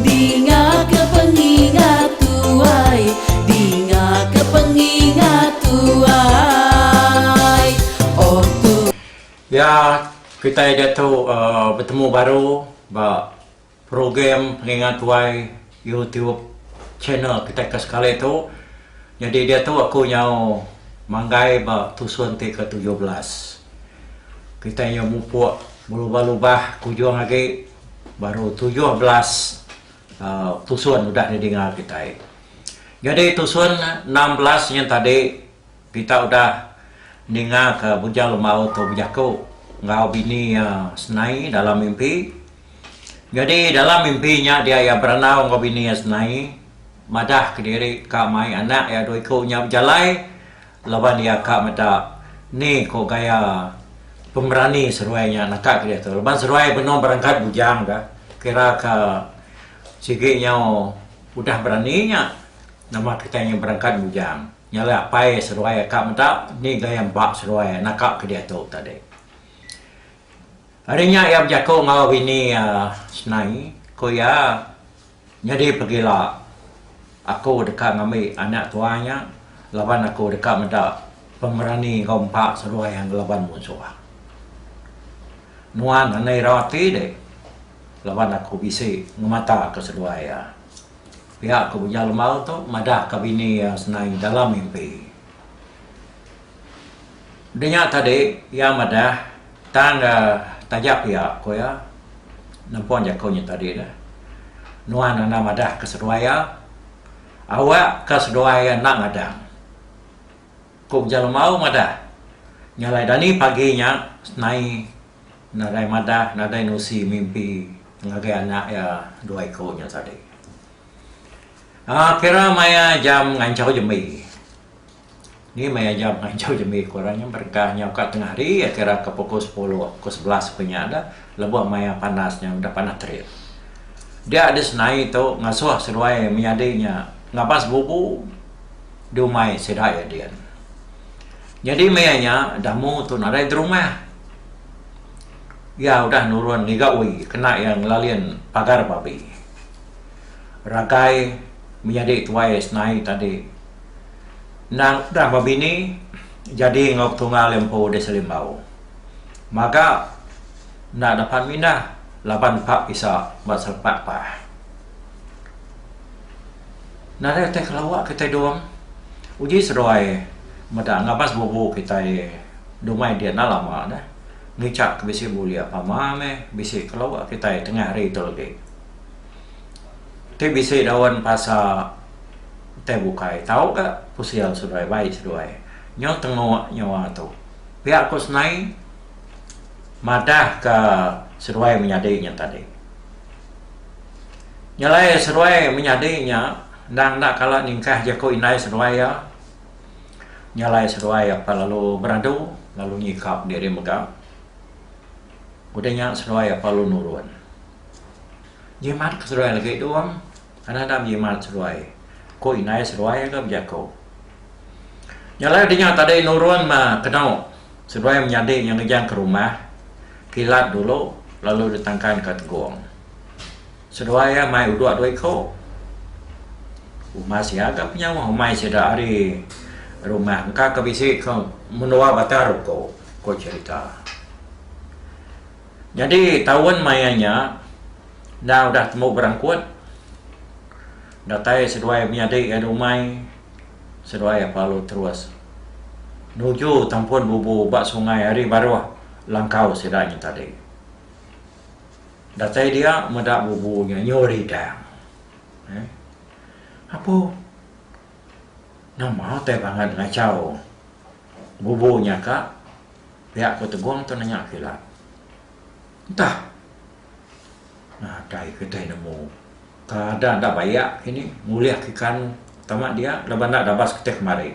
Dingaka pengingat tuai, dingaka pengingat tuai, oh tu. Ya, kitai diatu betemu baru ba program Pengingat Tuai YouTube channel kitai ke sekali tu. Nyadi diatu aku nyau manggai ba tusun ti ketujuh belas. Kitai nyau mupuk belubah-lubah ke ujung agi. Baru tujuh belas tusun udah didinga kitai. Nyadi tusun enam belas nyin tadi kita udah ningaka Bujang Lembau tu bejaku enggau bini iya Senai dalam mimpi. Nyadi dalam mimpi nya dia iya berandau enggau bini iya Senai madah kediri ka mai anak iya dua iku nya bejalai. Laban iya ka meda ni ko gaya pemerani seruai nya naka ke diatu laban seruai benung berangkat bujang ka kira ka sigi nyau udah berani nya nama kitai nyu berangkat bujang nya alai apai seruai ka meda ni gaya empa seruai naka ke diatu tadi. Ari nya iya bejaku enggau bini iya Snai ko iya. Nyadi pegila aku deka ngambi anak tuai nya laban aku deka meda pemerani enggau empa seruai iya ngelaban munsuh. Nuan ngena ira ati dek laban aku bisi ngemataka seduai iya. Pia ku Bujang Lembau tu madahka bini iya senai dalam mimpi. Deh nya tadi iya madah tang ga taja pia ku iya nempun jaku nya tadi dah nuan enda madah ka seduai iya awak ka seduai iya enda ngadang ku ujan lemau madah nya alai dani pagi nya senai nadai madah nadai nusi mimpi ngagai anak iya dua iku nya tadi. Aaa kira maya jam nganchau jembi. Ni meh aja ngajau jembi ku orang nya berengkah nya uka tengah hari kira ke pukul sepuluh pukul sebelas ku nya dah lebuh maya panas nya udah panas terik. Dia di senai tu ngasuh seduai menyadi nya ngaban sebubu di umai sida iya din. Nyadi maya nya damu tu nadai di rumah. Iya udah nurun ngiga uwi kena iya ngelalin pagar babi. Ragai menyadi tuai senai tadi. Endang udah bebini jadi enggau Petunggal iya empu di Selimbau. Maga enda dapat mindah laban pak pisa ba selepak pah. Nadai utai kelawa kitai dong. Uji seduai meda ngabas bubu kitai dumai dia enda lama dah. Ngichak ke bisi bulik pama meh bisi kelawa kitai tengah hari tu legi. Ti bisi daun pasa. Utai bukai tau ga kusil seduai bai seduai nyo tengok nyawa tu. Pia ku senai madah ka seduai menyadi nya tadi. Nyelai seduai menyadi nya endang enda kala ningkah jeku indai seduai iya. Nyelai seduai apai lalu beradu lalu nyikap diri mega. Udah nya seduai apai lalu nurun. Jimat ka seduai lagi duang. Kana enda menjimat seruai. Ko indai seruai ka bejako. Nya alai dinga tadi nurun ma keno seruai menyadi nya ngejang ke rumah kilat dulu lalu ditangkan ka tegong. Seruai iya mai udok dua iko. Umas iya ka penyawa umai sida ari rumah engka ka bisi ka menua batang ruko, ko cherita. Nyadi taun maya nya enda udah tembu berangkut datai seduai menyadi ari umai seduai ap alu terus nuju tampun bubu ba sungai ari baruh langkau sida nya tadi. Datai dia meda bubu nya nyu ridang. Apu. Nama utai pangan ngachau bubu nya ka? pia ku Tegong tu nanya aku ila. Entah. Nadai kitai nemu. Keadaan enda bayak kini ngulih ikan tama dia laban enda dabas kitai kemari.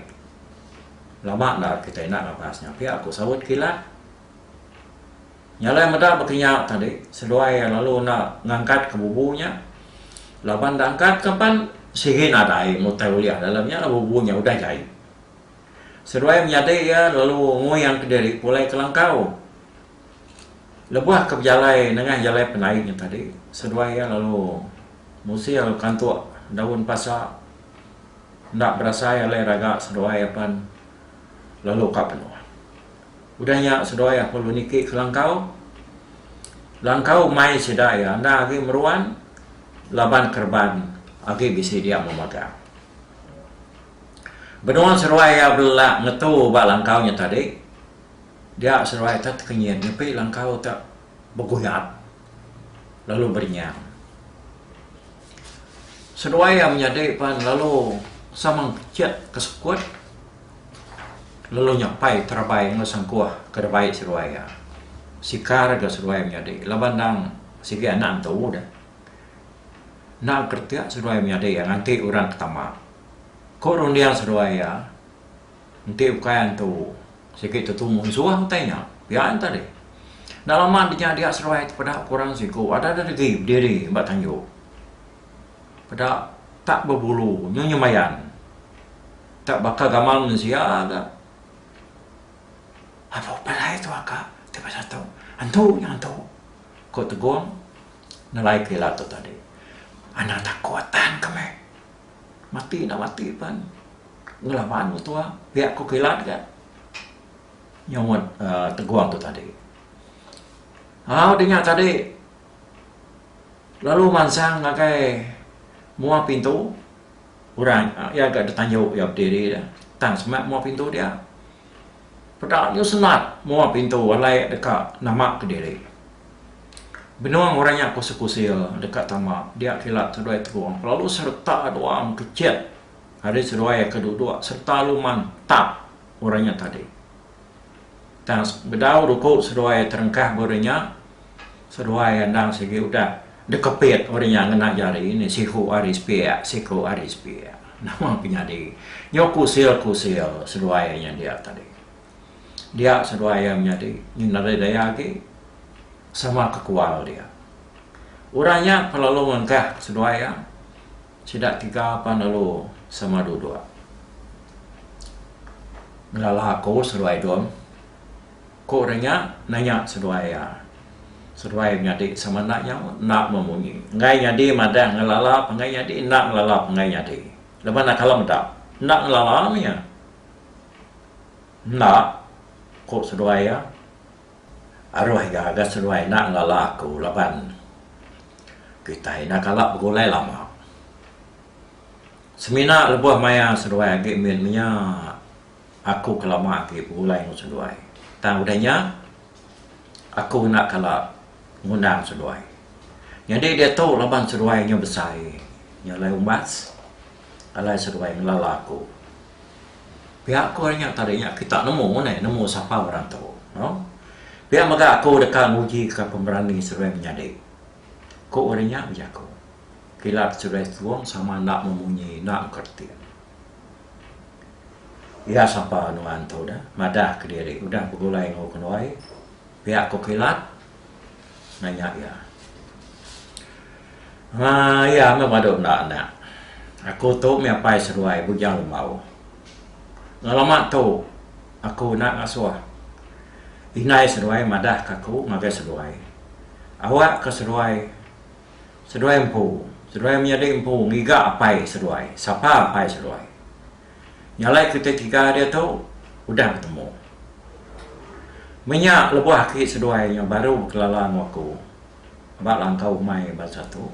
Lama enda kitai enda ngabas nya pia ku saut ku ila. Nya alai meda baka nya tadi seduai iya lalu enda ngangkatka bubu nya laban enda angkatka pan sigi nadai mutai ulih dalam nya lalu bubu nya udah jai. Seduai menyadi iya lalu nguingka diri pulai ke langkau. Lebuh ke bejalai nengah jalai pendai nya tadi seduai iya lalu musil kantuk daun pasa enda berasai alai raga seduai iya pan lalu ka penua. Udah nya seduai aku lalu niki ke langkau. Langkau mai sida iya enda agi meruan laban kereban agi bisi dia memagang. Benung seduai iya belelak ngetu ba langkau nya tadi, dia seduai tu tekenyit nyepi langkau tu beguyap lalu berenyang. Seduai iya menyadi pan lalu sama pechit ke sekut. Lalu nya pai terabai enggau sangkuh ke da bai seruai iya. Sikar ga seruai menyadi laban endang sigi anak entu deh. Enda keretik seruai menyadi iya nganti orang ke tama. Ko runding seruai iya enti ukai entu sigi tentu munsuh utai nya. Pia nya tadi. Enda lama ti nya dia seruai ti peda ku orang siku ada da degi bediri ba tanjung. Peda tak bebulu nyu nyemayan. Ka baka gamal mensia ga. Aduh palai tu aka ti pasal tu. Antu nya antu. Ko Tegong nelai ke ila tu tadi. Anang takut tan ka meh. Mati enda mati pen ngelaban mentua pia ko kilat ga nyomot uhh Tegong tu tadi. Au di nya tadi lalu mansang ngagai mua pintu. Orang iya ga ditanju iya bediri dah tang semak mua pintu dia. Peda nya senat mua pintu alai deka nama ke diri. Benung orang nya kusil-kusil deka tama dia kila seduai terung kelalu sereta duang kechet ari seduai ke duduk sereta luman tak orang nya tadi. Tang bedau ruku seduai terengkah buri nya seduai endang sigi udah dekepit buri nya ngena jari ni siku ari sepiak siku ari sepiak nama penyadi nyu kusil kusil seduai iya nya dia tadi dia seduai iya menyadi ngin ari daya agi sama kekual dia orang nya pelalu ngengkah seduai iya Sida tiga pan lalu sama duduk ngelala aku seduai Don. Ku orang nya nanya seduai iya. Seduai nyadi sama enda nyau, enda memunyi. Enggai nyadi madah ngelala penggai nyadi, enda ngelala penggai nyadi. Lebuh enda kala meda, enda ngelala meh iya. Enda, ku seduai iya. Aroh ga ga seruai enda ngelala aku laban kitai enda kala begulai lama. Semina lebuh maya seruai agi min menya aku ke lama agi begulai enggau seduai. Tang udah nya aku enda kala ngundang seduai. Nyadi diatu laban seduai nya besai, nya alai umbas alai seduai ngelala aku. Pia ko ari nya tadi nya kita nemu neh nemu sapa orang tu no. Pia mega aku deka nguji ka pemberani seruai menyadi. Ko ari nya bejaku. Kilat seruai setuong sama enda memunyi enda engka reti. Iya sapa nuan tu dah madah kediri udah begulai enggau kenuai pia ko kilat Nanya iya. Anga iya meh badu enda anak. Aku tu mih apai seduai Bujang Lembau. Enggau lama tu aku enda ngasuh indai seduai madah ka aku ngagai seduai. Awak ke seduai, seduai empu, seduai menyadi empu ngiga apai seduai, sapa apai seduai. Nya alai kitai tiga diatu udah betemu. Menya lebuh aki seduai nya baru bekelala enggau aku ba langkau umai bansa tu.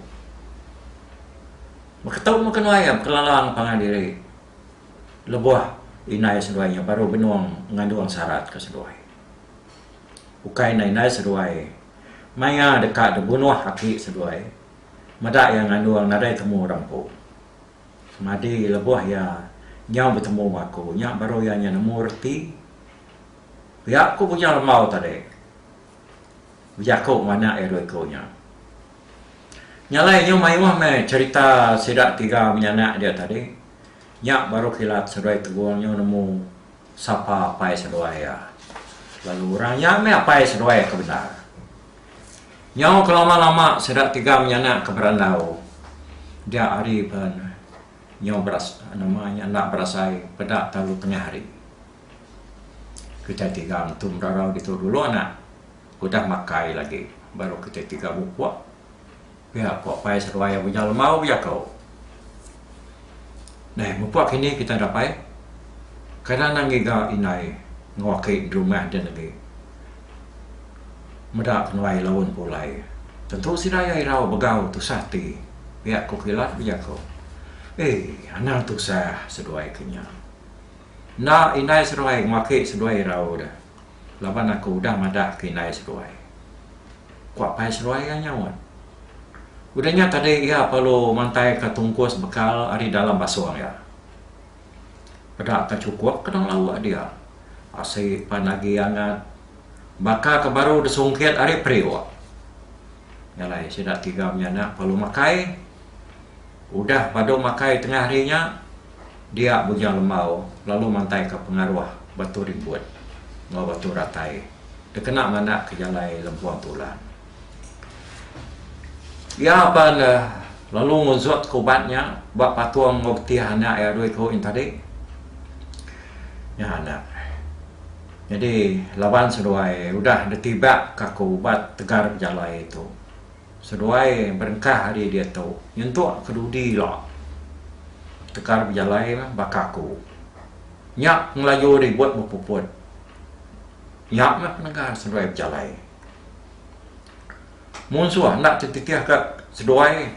Beketu meh kenuai iya bekelala enggau pangan diri lebuh indai seduai nya baru benung ngandung sarat ke seduai. Ukai ne indai seduai maya deka dibunuh aki seduai meda iya ngandung nadai temu orang empu. Semadi lebuh iya nyau betemu enggau aku, nya baru iya nyau nemu reti. Pia ku Bujang Lembau tadi bejaku enggau anak iya dua iku nya. Nya alai inyu mayuh meh cherita sida tiga menyanak dia tadi. Nya baru kilat Seduai Tegong nyau nemu. Sapa apai seduai iya, lalu orang nya meh apai seduai ke bendar. Nyau ke lama-lama sida tiga menyanak ke berandau dia hari pen nyau beras nama nya enda berasai peda talu tengah hari. Kitai tiga entu merarau ditu dulu anak udah makai lagi baru kitai tiga bupuk. Pia ko apai seduai Uja Lemau bejako. Neh mepa kini kitai dapai kada anang ngiga indai enggau aki di rumah den agi meda kenuai laun pulai. Tentu sida iya irau begau tusah ati, pia ko Kilat bejako. Ei anang tusah seduai ke nya. Enda indai seduai enggau aki seduai irau deh. Laban aku udah madah ke indai seruai. Ku apai seruai iya nyaut. Udah nya tadi iya perlu mantaika tungkus bekal ari dalam basung iya. Peda ka chukup kena ngelauk dia. Asi pan agi angat. Baka ke baru disungkit ari periuk. Nya alai sida tiga menyana perlu makai. Udah padu makai tengah hari nya, dia Bujang Lembau lalu mantaika pengaruh Batu Rimbut enggau Batu Ratai dikena mandak ke jalai Lempung Tulan. Iya pan lalu ngunsutka ubat nya ba patung enggau betih anak iya dua iku nya tadi. Nya anak. Nyadi laban seduai udah ditibakka ubat tegar bejalai tu. Seduai berengkah ari diatu, nyentuk ke dudi ila tekar bejalai baka aku. Nya pengelaju ribut bepuput. Nya meh penegah seduai bejalai. Mun suah enda ti titih ka seduai,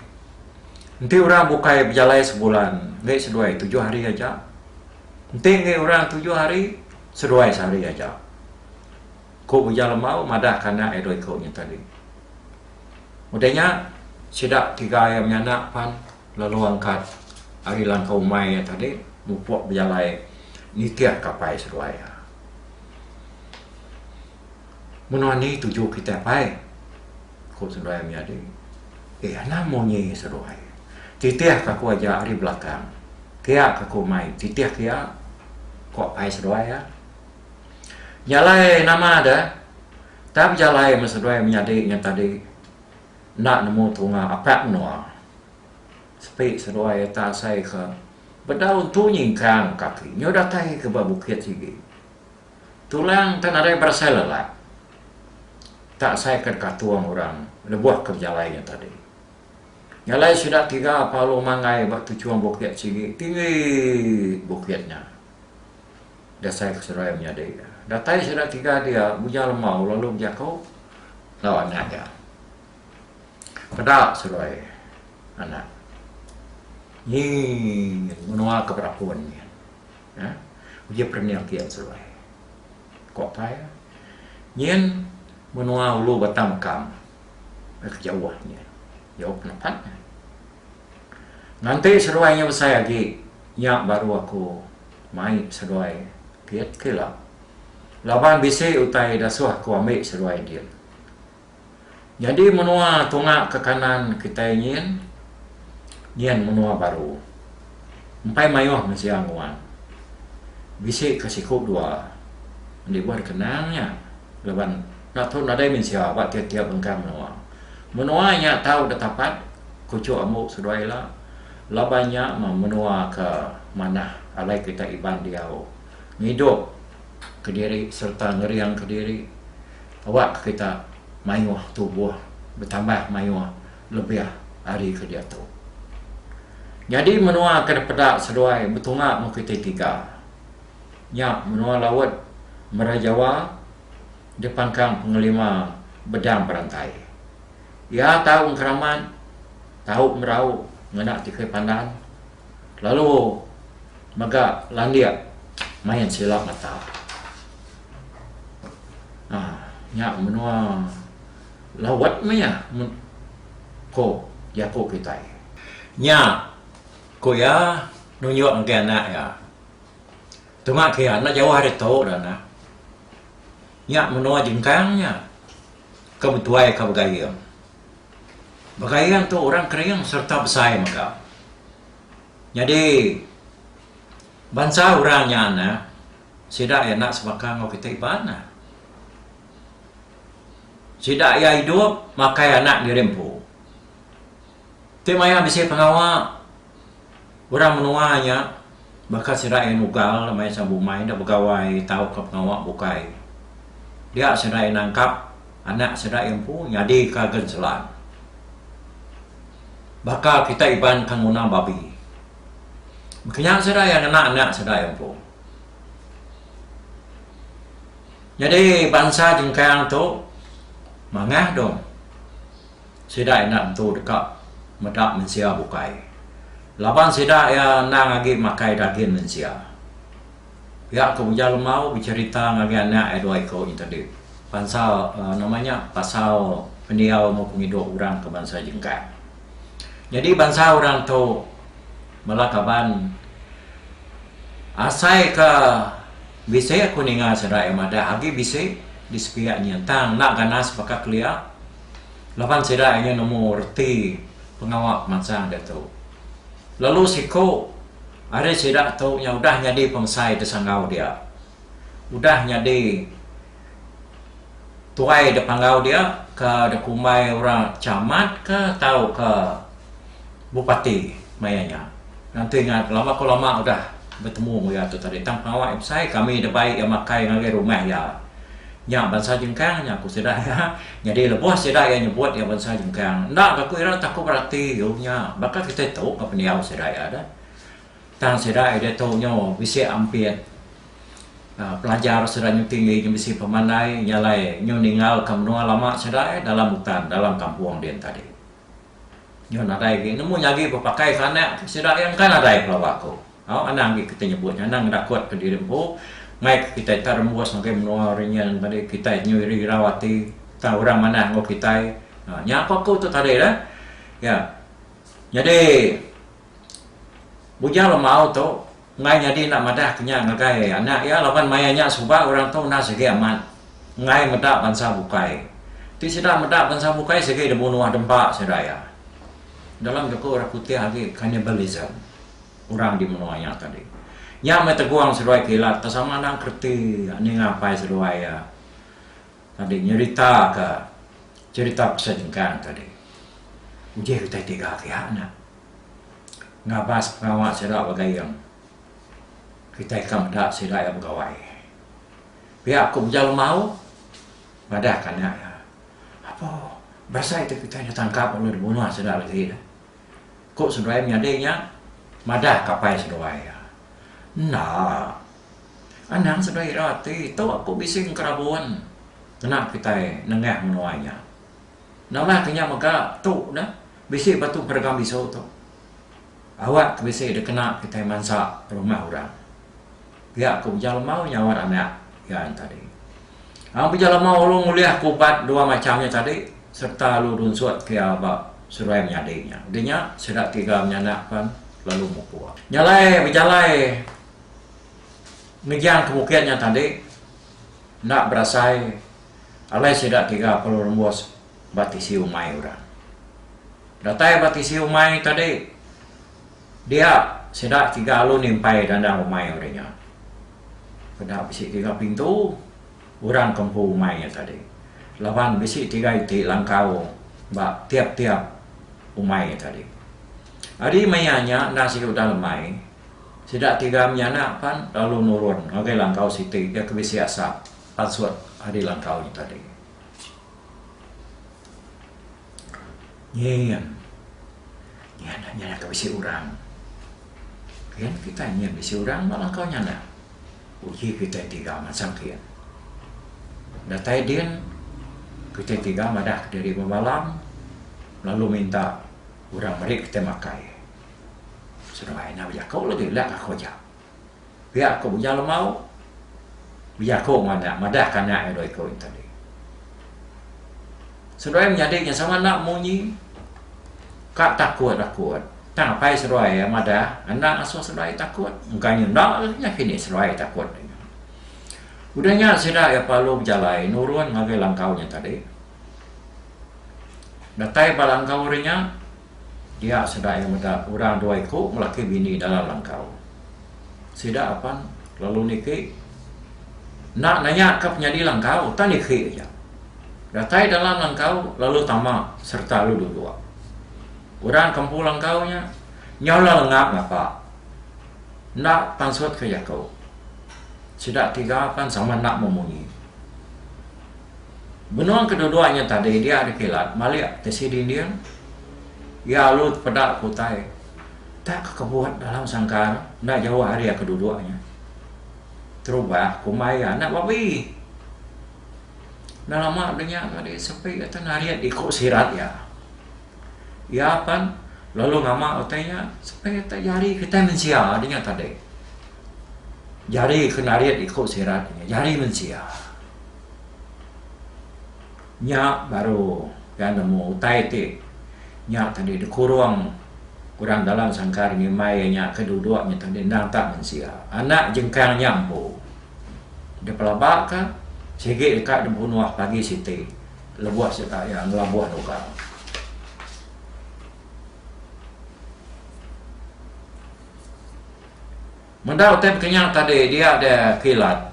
enti orang bukai bejalai sebulan enggai seduai tujuh hari aja. Enti enggai orang tujuh hari, seduai sehari aja. Ku Ujang Lemau madah kanak iya dua iku nya tadi. Udah nya, sida tiga iya menyanak pan lalu angkat ari langkau umai iya tadi mupuk bejalai nitih kapai seduai iya. Menua eni tuju kitai pai? ku seduai iya menyadi. Eh anang munyi seduai. Titih ka aku aja ari belakang. Kia ka aku mai titih ke iya, ku apai seduai iya. Jalai nama da tang bejalai meh seduai menyadi ngan tadi enda nemu tunga apat menua. Sepi seduai eta asai ke bedau entu nyingkang kaki nyau datai ke ba bukit sigi. Tulang enda nadai berasai lelak. Eta asai ke dikatung orang lebuh ke bejalai nya tadi. Jalai sida tiga palu manggai ba tuchung bukit sigi tinggi bukit nya. dasai ke seduai menyadi. Datai sida tiga dia muja lemau lalu bejaku enggau anak dia. Peda seduai anak. Nyi nyin menua ke berapun nyin. Ha? Uji perening kian seduai. Ko apai nyin menua ulu batang mekam. Ke jauh nyin. Jauh penepat. Nganti seduai nya besai agi, nya baru aku mai seduai git ke ila. Laban bisi utai dasuh aku ambi seduai din. Nyadi menua tunga ke kanan kitai nyin, nyin menua baru. Empai maioh mensia nguan. Bisi ke siku dua. Enti buan kenang nya laban. Nya pun nadai mensia ba tiap-tiap bengkang menua. Menua nya tau ditapat kuchuk ambu seduai ila laban nya meh menua ke manah alai kita Iban diau ngidup kediri sereta ngering kediri awakka kita mayuh tubuh betambah mayuh lebih ari ke diatu. Nyadi menua ke dipeda seduai betunga meh kitai tiga. nya menua laut mera Jawa dipangkang pengelima bedang berantai. Iya tau engkeramat, tau merau ngena tikui pandan lalu mega landik main sila mata. Aaa nya menua laut meh iya ko jaku kitai. Nya ku iya nunjuk ngagai anak iya. Tuma ke enda jauh ari tu dah nah. Nya menua Jengkang nya ke betuai ka Begaing. Begaing tu orang Kering sereta besai mega. Nyadi bansa orang nya nah sida iya enda sebaka enggau kita Iban nah. Sida iya idup makai anak diri empu. Ti maya bisi pengawa orang menua nya baka serai nugal maya sida bumai enda begawai tauka pengawa bukai dia serai nangkap anak sida empu nyadika gen selan. Baka kita Iban ke nguna babi. Kenya sida iya ngena anak sida empu. Nyadi bansa jengkang tu mangah dong. Sida enda nentu deka meda mensia bukai laban sida iya endang agi makai dagin mensia. Pia ke Ujar Lemau becherita ngagai anak iya dua iko nyentedi pansal nama nya pasal pendiau enggau pengidup orang ke bansa Jengkang. Nyadi bansa orang tu bala kaban asai ke bisi ku ninga sida iya madah agi bisi di sepiak nyin tang enda ganas baka kelia. laban sida iya nemu reti pengawa pemansang diatu. Lalu siku ari sida tu nya udah nyadi pemesai di sanggau dia. Udah nyadi tuai di panggau dia, ke dikumbai orang camat ka tauka. Bup ati maya nya. Nanti nya lama ko lama udah betemu enggau iya tu tadi tang pengawa iya besai kami ida bai iya makai ngagai rumah iya. Nya bansa jengkang nya ku sida iya. Nyadi lebuh sida iya nyebut iya bansa jengkang enda ga ku ira taku berati u nya baka kitai tu enggau pendiau sida iya deh. Tang sida iya ditu nyu bisi ampit aaa pelajar sida nyu tinggi nyu bisi pemandai nya alai nyu ninggal ka menua lama sida iya dalam utan dalam kampung din tadi. Nyau nadai agi nemu nyagi bepakai ke anak ti sida iya engka nadai pelawa aku. Au anang agi kitai nyebut nya anang ngedakut ke diri empu mai ke kitai tau rembus ngagai menua ri nyin tadi kitai nyau iri irau ati tang orang manah enggau kitai. Nah nya ko aku tu tadi lah. Iya. Nyadi bujang lemau tu Enggai nyadi enda madah ke nya ngagai anak iya laban maya nya suba orang tu enda sigi amat enggai meda bansa bukai. Ti sida meda bansa bukai sigi dibunuh dempa sida iya. Dalam jaku orang Kutih agi cannibalism orang di menua nya tadi. Nya meh tegong seduai kilat ke sama anang kereti ninga apai seduai iya tadi nyerita ke cherita pasal jengkang tadi. Uji utai tiga kiya nya. ngabas pengawa sida ba Gayeng. Kitai ka meda sida iya begawai. Pia ku Beja Lemau madah ka anak iya, Apo, berasai tu kitai enda tangkap lalu dibunuh sida legi dah. Ku seduai menyadi nya madah ka apai seduai iya, Enda. Anang seduai ira ati tu aku bisi ngerabun ngena kitai nengah menua nya. Nama ke nya mega tu neh bisi ba tu peregang bisu tu. Awak ke bisi dikena kitai mansa rumah orang. Pia ku Beja Lemau nyaut anak iya nya tadi. Ang Beja Lemau alu ngulih ke ubat dua macham nya tadi sereta alu runsut ke iya ba seruai menyadi nya. Udah nya sida tiga menyanak pan lalu mupuk. Nya alai bejalai ngejang ke bukit nya tadi enda berasai. Alai sida tiga pelu rembus ba tisi umai orang. Datai ba tisi umai tadi, dia sida tiga alu nimpai dandang umai ori nya. Peda bisi tiga pintu orang ke empu umai nya tadi laban bisi tiga iti langkau ba tiap-tiap umai nya tadi. Ari maya nya enda sigi udah lemai, sida tiga menyanak pan lalu nurun ngagai langkau siti iya ke bisi asap. Password ari langkau nya tadi. Nyin. Nya enda nyada ka bisi orang. Ken kitai nyin bisi orang ba langkau nya enda. Uji kitai tiga masang ken. Datai din kitai tiga madah kediri bemalam lalu minta orang meri kitai makai. Seduai enda bejaku lagi ila ka aku aja. Pia aku bujang lemau, bejaku enggau anak, madahka anak iya dua iku nya tadi. Seduai menyadi nya sama enda munyi, ka takut-takut. Tang apai seduai iya madah, enda ngasuh seduai takut. Engka nya enda lagi nya kini seduai takut. Udah nya sida iya perlu bejalai nurun ngagai langkau nya tadi. Datai ba langkau ri nya. Dia sida iya meda orang dua iku laki bini dalam langkau. Sida apan lalu niki enda nanya ka penyadi langkau tang dikhi aja. Datai dalam langkau lalu tama sereta lalu duduk. Orang ke empu langkau nya nyau ila lengap ngapa enda pansut ka jaku. Sida tiga pan sama enda memunyi. Benung kedua-dua nya tadi dia dikilat malik ti sidi ending. Iya alu tepeda ku utai tak ke kebut dalam sangkar enda jauh ari iya ke duduk nya. Terubah kumbai iya enda babi. Enda lama deh nya tadi sepi atu narit iku sirat iya. Iya pan lalu ngama utai iya supaya utai jari kitai mensia ti nya tadi. Jari ke narit iku sirat ti nya jari mensia. Nya baru pia nemu utai ti nya tadi dikurung orang dalam sangkar ngimbai iya nya ke duduk nya tadi endang tak mensia. Anak jengkang nya empu dipelaba ka sigi deka dibunuh pagi siti. Lebuh sitak iya ngelabuh lukang. Meda utai bekenyang tadi dia ada kilat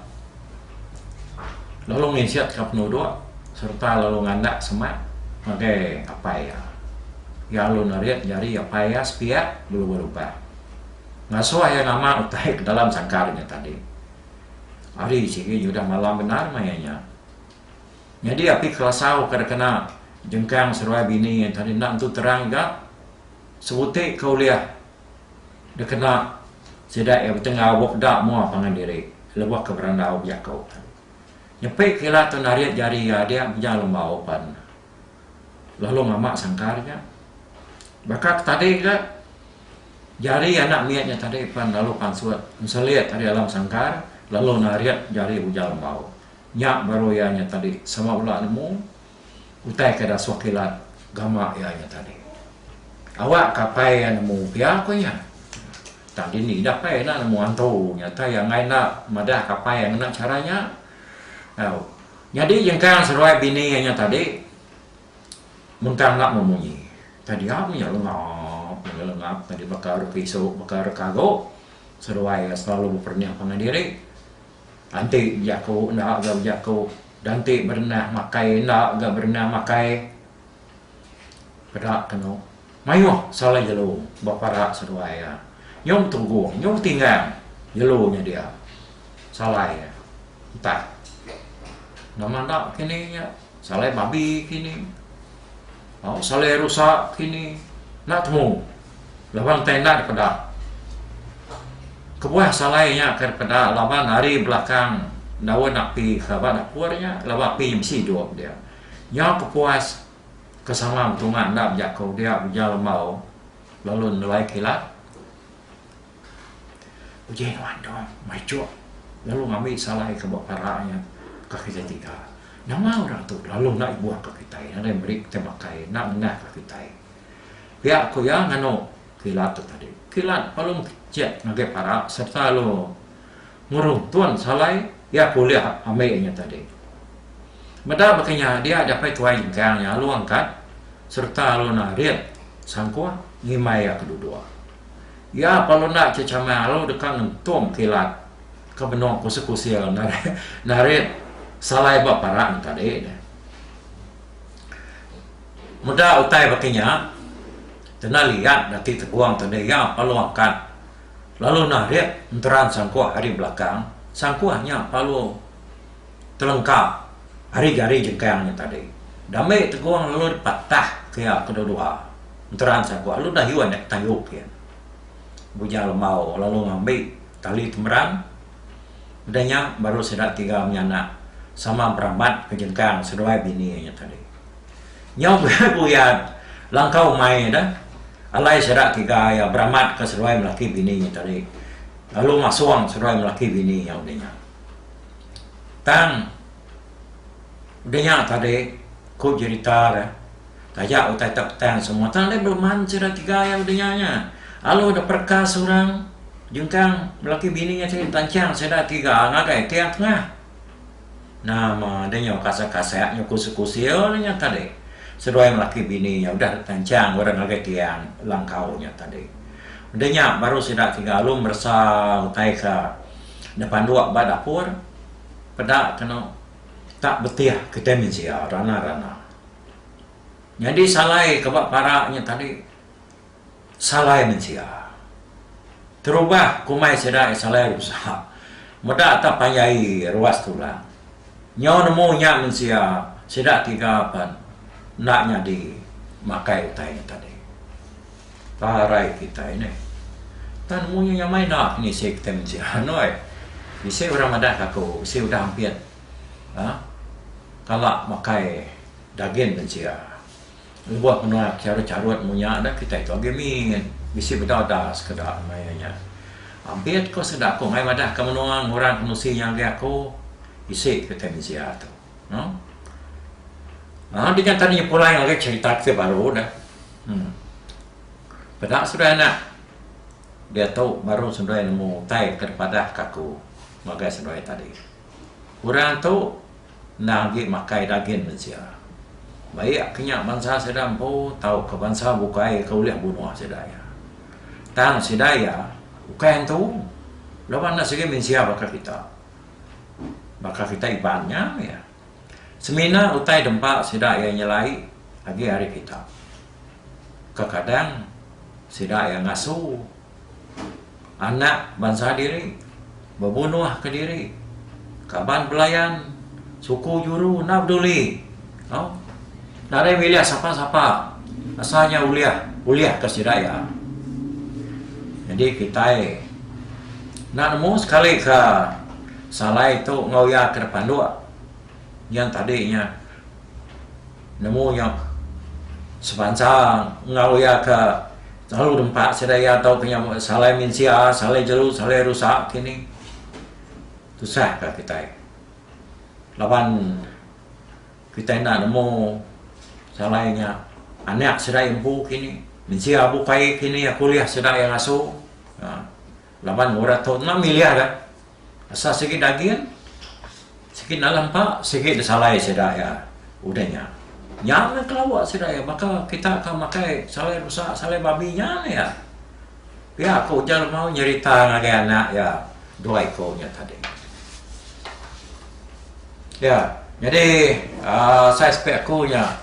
lalu nginsitka penuduk sereta lalu ngandak semak ngagai apai iya. Iya lalu nerit jari apai iya sepiak belubur ubah. Ngasuh iya nama utai ke dalam sangkar inya tadi. Ari sigi nyudah malam bendar maya inya. Nyadi api kelasau ke dikena jengkang seruai bini tadi enda nentu terang juga sebuti ke ulih dikena sida iya betenggau bup da mua pangan diri lebuh ke berandau bejaku. Nyepi ke ila tu narit jari iya adik beja lembau pan lalu ngama sangkar ja. Baka ke tadi ja jari anak mit nya tadi pan lalu pansut nselit ari alam sangkar lalu narit jari beja lembau. Nya baru iya nya tadi sama bela nemu utai ke ida suah kilat gama iya nya tadi. Awak ka apai iya nemu pia ku iya. Tang dini ida apai enda nemu antu nya tah iya enggai enda madah ka apai iya ngena chara nya. Au. Nyadi jengkang seruai bini iya nya tadi mun tang enda meh munyi. Tang dia meh nya lengap mega lengap tadi baka ari pisu baka ari kago seruai iya selalu beperengah pangan diri. Enti bejaku enda ga bejaku danti berenah makai enda ga berenah makai peda kenu maioh salah jelu ba para seduai iya nyau betugong nyau betinggang jelu nya dia salai iya entah nama enda kini nya. Salai babi kini. Au salai rusa kini. Enda temu. Laban entei enda dipeda. Kebuah salai nya kai dipeda laban ari belakang daun api ke ba dapur nya laban api nya mesti idup dia. Nyau kepuas ke sama betunga enda bejaku dia ujar lembau lalu nelai kilat. Uji nuan tu mai chok lalu ngambi salai ke ba para nya ka kitai tiga. Nama orang tu lalu enda ibuh ka kitai nadai meri kitai makai enda nengah ka kitai. Pia ku iya nganu kilat tu tadi. Kilat lalu mekecek ngagai para serta lalu ngurung tun salai iya ke ulih ambi nya tadi. Meda baka nya dia japai tuai jengkang nya lalu angkat serta lalu narit sangkuh ngimbai iya ke duduk. Iya parlu enda ke chamai alu deka ngentum kilat ke benung kusil-kusil narit salai ba parak ne tadi ne. Meda utai baka nya, kena liat da ti tegong tu deh iya parlu angkat lalu narit enteran sangkuh ari belakang. Sangkuh nya parlu. Telengka, ari gari jengkang nya tadi. Dame tegong lalu dipatah kea kedua-dua. Enteran sagu alu dayuh nya tayuh pin. Bujang Lemau lalu ngambi tali temerang. Udah nya baru sida tiga menyanak sama beramat ke jengkang seduai bini nya tadi. Nyau buyat-buyat langkau mai deh alai sida tiga iya beramatka seduai melaki bini nya tadi lalu masong seduai melaki bini nya udah nya. Tang udah nya tadi ku jerita deh taja utai tok tang semua tang deh beman sida tiga iya udah nya nya alu deh pereka seorang jengkang laki bini nya tadi tanchang sida tiga ngagai tiang tengah nama deh nya kasah kasah nya kusil kusil deh nya tadi seduai laki bini nya udah tanchang orang ngagai tiang langkau nya tadi udah nya baru sida tiga alu meresa utai ka Nepanduk ba dapur peda kenu tak betih kitai mensia rana-rana. Nyadi salai ke ba para nya tadi salai mensia. Terubah ke umai sida iya salai rusa. Meda tak panjai ruas tulang. Nyau nemu nya mensia sida tiga pen enda nyadi makai utai nya tadi. Parai kitai nih. Tan munyi nyamai enda penisi kitai menti anoi. Bisi orang madah ka aku, bisi udah ampit uhh kala makai dagin bencia. Lebuh menua ke charut-charut mung nya dah kitai tu agi mit. Bisi bedau da sekeda maya nya. Ampit ko sida ko mai madah ka menua ngurang ke menusi nya ngagai aku. Isi kitai mensia tu. Lalu dengan tadi nyepulai lagi cerita ke baru ne. Hmm. Peda sudah anak. Dia tu baru sendai nemu utai ke padah ke aku ngagai sendai tadi. Orang tu enda agi makai dagin mensia. Baik ke nya bansa sida empu tau ke bansa bukai ke ulih bunuh sida iya. Tang sida iya ukai entu laban ne sigi mensia baka kita. Baka kita Iban nya meh. Semina utai dempa sida iya nyelai agi ari kita. Kekadang sida iya ngasu anak bansa diri bebunuh kediri kaban belayan suku juru enda peduli. Au. Nadai milih sapa-sapa. Asal nya ulih, ulih ka sida iya. Jadi kitai enda nemu sekali ka salai tu enggau iya ke depanduk nyen tadi nya nemu nya sebansa enggau iya ke selalu nempa sida iya tau ke nya salai mensia, salai jeru, salai rusak kinih. Tusah ka kitai. Laban. Kitai enda nemu salai nya. Anak serai empu kini. Mensia bukai kini aku ulih sida iya ngasu. Haa. Laban orang tu enda milih dah. Asal sigi daging, sigi dalam empa, sigi disalai sida iya udah nya. Nya meh kelawa sida iya baka kita ka makai salai rusa, salai babi nya meh iya. Pia ko ujar Lemau nyerita ngagai anak iya dua iko nya tadi. Ya, nyadi aaa sai sepe aku nya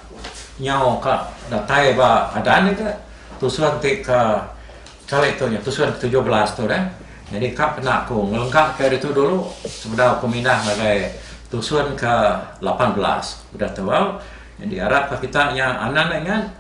nyau ka datai ba adan ika tusun ti ka kali tu nya tusun ke tujuh belas tu dah. Nyadi ka pena aku ngelengka ka ditu dulu sebedau aku mindah ngagai tusun ke lapan belas udah tebau. Nyadi arap ka kita nya anang ingat.